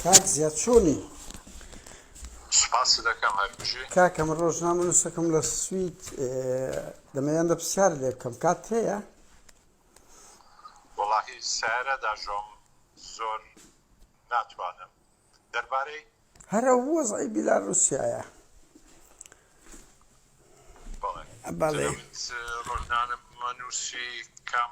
کاک زیاد چۆنی کاکەم ڕۆژنامە نووسەکەم لە سوید دەمەیان دە پرسیار لێ بکەم کات هەیە وڵاهی سارە داژۆم زۆر ناتوانم دەربارەی هەرە وەزعی بیلا رووسایە بەڵێ ڕۆژنانە نووسی کەم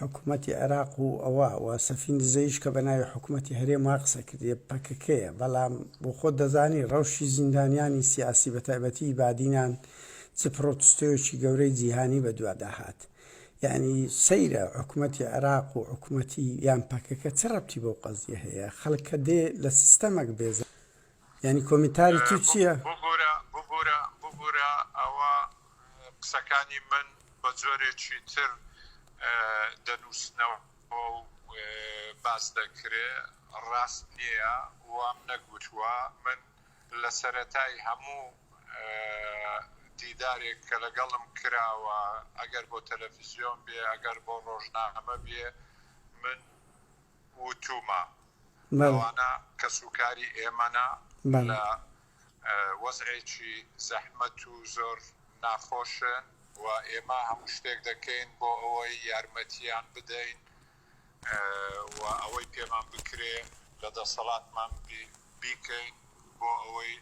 حکومەتی عێراق و ئەوە و سەفین دزەیش کە بە ناوی حکومەتی هەرێم وا قسە کردیە پەکەکەیە بەڵام بۆ خۆت دەزانی ڕەوشی زیندانیانی سیاسی بە تایبەتی بادینان چ پڕۆتستۆیەکی گەورەی جیهانی بە دوادا هات یانی سەیرە حکومەتی عێراق و حکومەتی یان پەکەکە چ ڕەبتی بەو قەزیە هەیە خەڵک کە دێ لە سیستەمەک بێزار یانی کۆمینتاری تو چیە؟ ببورە ببورە ببورە ئەوە قسەکانی من بە جۆرێکی تر دەنوسنەوە و باس دەکرێ ڕاست نیە وام نەگوتوە من لە سەرەتای هەموو دیدارێک کە لەگەڵم کراوە ئەگەر بۆ تەلەفزیۆن بێ ئەگەر بۆ ڕۆژنامە بێ من وتوومە ئەوانە کەسوکاری ئێمەنە لە وەزعێکی زەحمەت و زۆر ناخۆشن و ئێمە هەموو شتێک دەکەین بۆ ئەوەی یارمەتیان بدەین و ئەوەی پێمان بکرێ لە دەسەڵاتمان بیکەین بۆ ئەوەی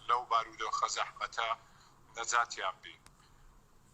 لەو بارودۆخە زەحمەتە نەجاتیان بین.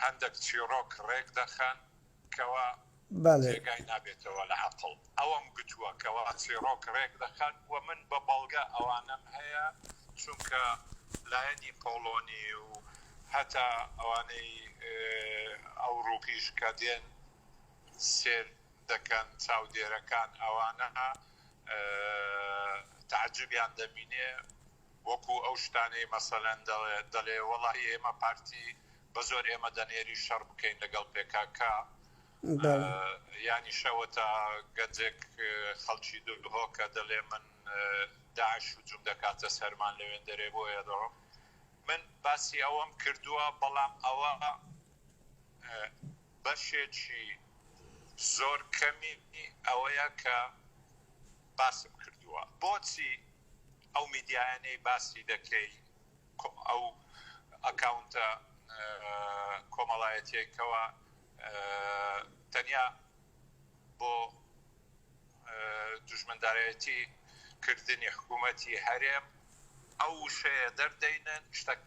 هەندەک چیڕۆک ڕێک دەخەن کەوا جێگای نابێتەوە لە عەقڵ ئەوەم گوتووە کەوا چیڕۆک ڕێک دەخەن و من بە بەڵگە ئەوانەم هەیە چونکە لایەنی پۆڵۆنی و هەتا ئەوانەی ئەوڕوپیش کە دێن سێر دەکەن چاودێرەکان ئەوانە تەعجوبیان دەبینێ وەکو ئەو شتانەی مەسەلەن دەڵێ وەڵا ئێمە پارتی بەزۆر ئێمە دەنێری شەڕ بکەین لەگەڵ پێکاکا یانی شەوە تا گەنجێک خەڵکی دهۆکە دەڵێ من داعش و جوم دەکاتە سەرمان لەوێن دەرێ بۆ ئێدەڕۆ من باسی ئەوەم کردووە بەڵام ئەوە بەشێکی زۆر کەمی ئەوەیە کە باسم کردووە بۆچی ئەو میدیایانەی باسی دەکەی ئەو ئەکاونتە کۆمەڵایەتیەی کەوا تەنیا بۆ دوژمندارەتی کردنی حکوومەتی هەرێم ئەو وشەیە دەردەینن شتەکە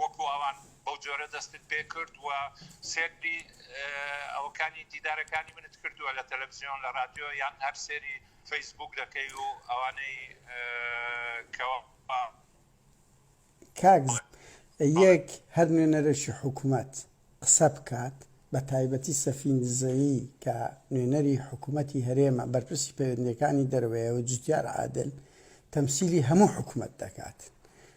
وەکو ئەوان بەو جۆرە دەستت پێ کرد و سێری ئەوەکانی دیدارەکانی منت کردووە لە تەلەفزیۆن لە ڕادیۆ یان هەر سێری فەیسبووک دەکەی و ئەوانەی کەوا. کاک ژیر یەک هەر نوێنەرێکی حکومەت قسە بکات بە تایبەتی سەفین دزەیی کە نوێنەری حکومەتی هەرێمە بەرپرسی پەیوەندیەکانی دەرەوەیە و جوتیار عادل تەمسیلی هەموو حکومەت دەکات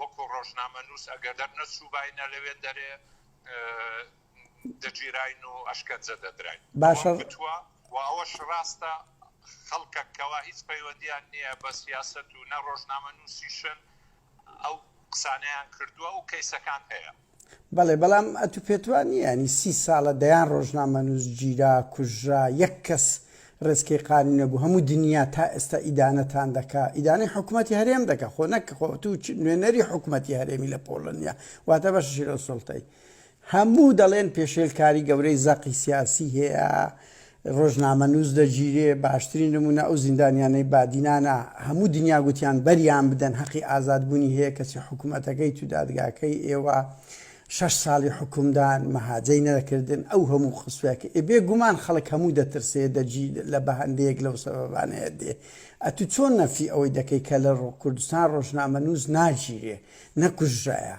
وەکو ڕۆژنامەنووس ئەگەر دەرنەچووباینە لەوێ دەرێ دەگیراین و ئەشکەنجە دەدراین باشە و ئەوەش ڕاستە خەڵکە کەوا هیچ پەیوەندیان نییە بە سیاست و نە ڕۆژنامە نووسیشن ئەو قسانیان کردووە و کەیسەکان هەیە بەڵێ، بەڵام ئەتو پێت وا نییە یانی سی ساڵە دەیان ڕۆژنامەنووس گیرا، کوژرا، یەک کەس ڕێچکەی قانوونی نەبوو، هەموو دنیا تا ئێستا ئیدانەتان دەکا، ئیدانەی حکومەتی هەرێم دەکا، خۆ نەک خۆ ئەتو نوێنەری حکومەتی هەرێمی لە پۆڵەنیا، واتە بەشە شیرۆسوڵتەی هەموو دەڵێن پێشێلکاری گەورەی زەقی سیاسی هەیە، ڕۆژنامەنووس دەگیرێ، باشترین نموونە ئەو زیندانیانەی بادینانە، هەموو دنیا گوتیان بەریان بدەن هەقی ئازاد بوونی هەیە کەچی حکومەتەکەیت و دادگاکەی ئێوە شەش ساڵی حوکمدان مەهاجەی نەدەکردن ئەو هەموو قسوە کە ئێ بێ گومان خەڵک هەموو دەترسێ دەگی لە بە هەندێک لەو سەبەبانەیە دێ ئەتوو چۆن نەفی ئەوەی دەکەی کە لە ڕۆ کوردستان ڕۆژنامەنووس ناگیرێ نەکوژرایە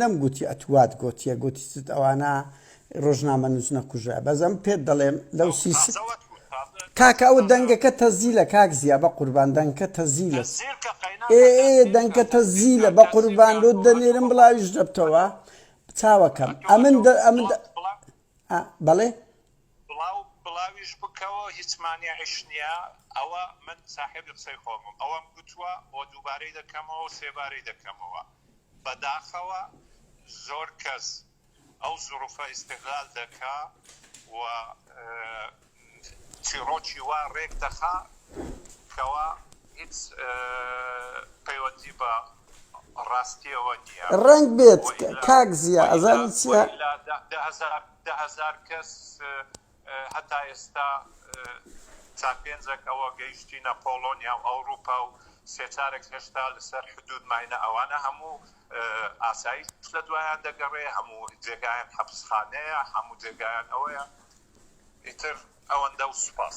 نەم گوتی ئەت وات گۆتیە گۆتیت ئەوانە ڕۆژنامە نوس نەکوژە بەس ئەم پێت دەڵێم لەو سی کاکە ئەو دەنگەکە تەزیلە کاک زییا بە قوربان دەنگکە تەزیلە ئێ دەنگکە تەزیلە بە قوربان لۆ دەنێرم بڵاویش دەبتەوە چاوەکەم ئەمن ئەمن ئا بەڵێ. بڵاو بڵاویش بکەوە هیچ مانیعیش نیە ئەوە من ساحێبی قسەی خۆمم ئەوەم گوتوە وە دووبارەی دەکەمەوەو سێبارەی دەکەمەوە بەداخەوە زۆر کەس ئەو زوڕفە ئیستغلال دەکا وە چیڕۆکی وا ڕێک دەخا کەوا هیچ پەیوەندی بە ڕاستیەوە نیە. ڕەنگ بێت کاک زیا ئەزانی چیە؟ دە هەزار کەس هەتا ئێستا چار پێنجەک ئەوە گەیشتینە پۆڵۆنیا و ئەوروپا و سێ چارەک هێشتا لەسەر حدود ماینە ئەوانە هەموو ئاسایش لە دوایان دەگەڕێ هەموو جێگایان حەپسخانەیە هەموو جێگایان ئەوەیە. ئیتر ئەوەندە و سوپاس.